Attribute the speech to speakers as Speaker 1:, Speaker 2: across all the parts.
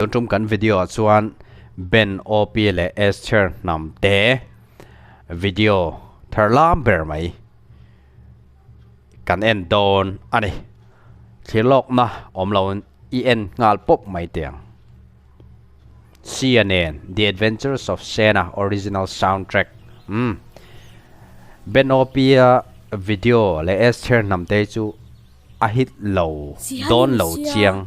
Speaker 1: Tun tum kan video ah chuan Ben, OP leh Esther hnam te video thar lam ber mai kan en dawn a ni. Thlir lawk na awm lo in i en nghal pawp mai teh ang. Sia nen The Adventures of Sena Original Soundtrack um Ben, OP a video leh Esther hnam te chu a hit lo dawn lo chiang.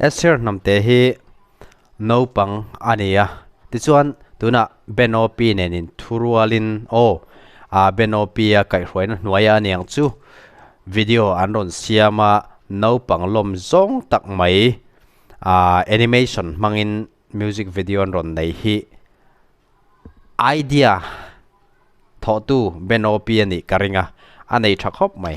Speaker 1: Esther hnamte hi naupang a ni a, tichuan tunah Benopi nenin thu rualin aw a Benopia kaihhruaina hnuaia a niang chu video an rawn siam a, naupang lawm zawng tak mai ahh animation hmangin music video an rawn nei hi idea thawhtu Benopi a nih ka ring a, a nei tha khawp mai.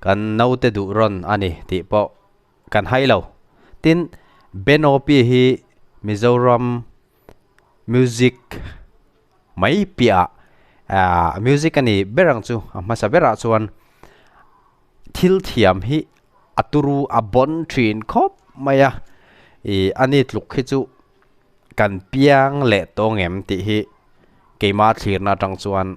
Speaker 1: Kan naute duh rawn a ni tih pawh kan hai lo. Tin, Benopi hi Mizoram music mai piahah music a nih ber ang chu a hmasa berah chuan thil thiam hi a turu a bawn thin khawp mai a. I a ni tluk khi chu kan piang leh tawng em tih hi keimah a thlirna atang chuan,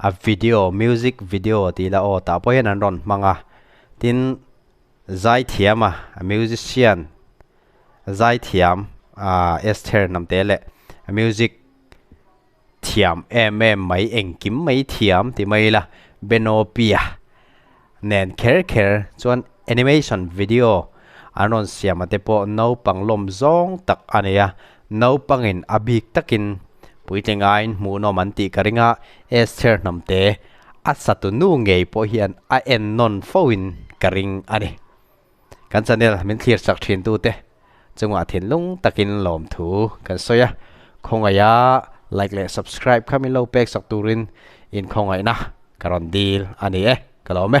Speaker 1: A video, music video tih ila aw tah pawh hian an rawn hmang a, tin Zaithiama a musician Zaithiam aah Esther Namte leh a music thiam em em mai engkim mai thiam ti mai ila Benopia nen kher kher chuan animation video an rawn siam a te pawh naupang lawm zawng tak a ni a naupangin a bik takin puitling aiin hmuhnawm an tih ka ring a Esther hnamte a satunu ngei pawh hian a en nawn fo in ka ring a ni. kan channel min thlir chak thin tu te chungah thinlung takin lawmthu kan sawi a khawngaia like leh subscribe kha min lo pek chak turin inkhawngaihna ka rawn dil a ni e ka lawm e.